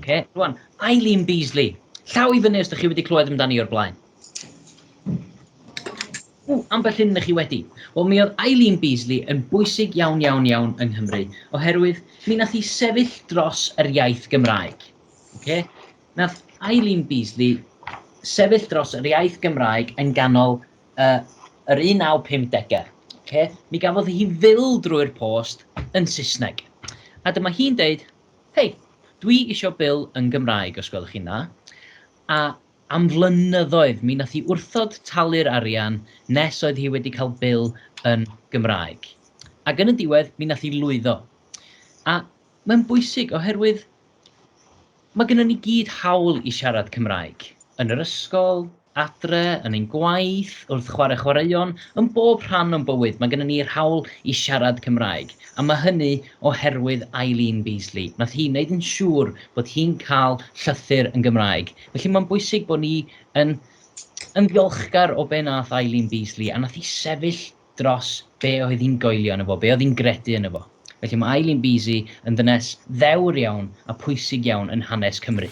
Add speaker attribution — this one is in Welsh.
Speaker 1: okay, rwan, Eileen Beasley. Llaw i fyny os ydych chi wedi clywed amdani o'r blaen. Ww, ambell hyn ydych chi wedi. Wel, mi oedd Eileen Beasley yn bwysig iawn, iawn, iawn yng Nghymru, oherwydd mi nath hi sefyll dros yr iaith Gymraeg. Okay? Nath Eileen Beasley sefyll dros yr iaith Gymraeg yn ganol y yr 1950au, oce? Mi gafodd hi fil drwy'r post yn Saesneg. A dyma hi'n deud, hei, dwi isio bil yn Gymraeg os gwelwch chi'n dda. A am flynyddoedd mi nath hi wrthod talu'r arian nes oedd hi wedi cael bil yn Gymraeg. Ac yn y diwedd mi nath hi lwyddo. A mae'n bwysig oherwydd Mae gynnon ni gyd hawl i siarad Cymraeg, yn yr ysgol, adre, yn ein gwaith, wrth chwarae chwaraeon, yn bob rhan o'n bywyd mae gynnon ni'r hawl i siarad Cymraeg, a mae hynny oherwydd Eileen Beasley, wnaeth hi wneud yn siŵr bod hi'n cael llythyr yn Gymraeg. Felly mae'n bwysig bod ni yn yn ddiolchgar o be' wnaeth Eileen Beasley, a wnaeth hi sefyll dros be oedd hi'n goelio yno fo, be oedd hi'n gredu yno fo. Felly mae Eileen Beasy yn ddynes ddewr iawn a pwysig iawn yn hanes Cymru.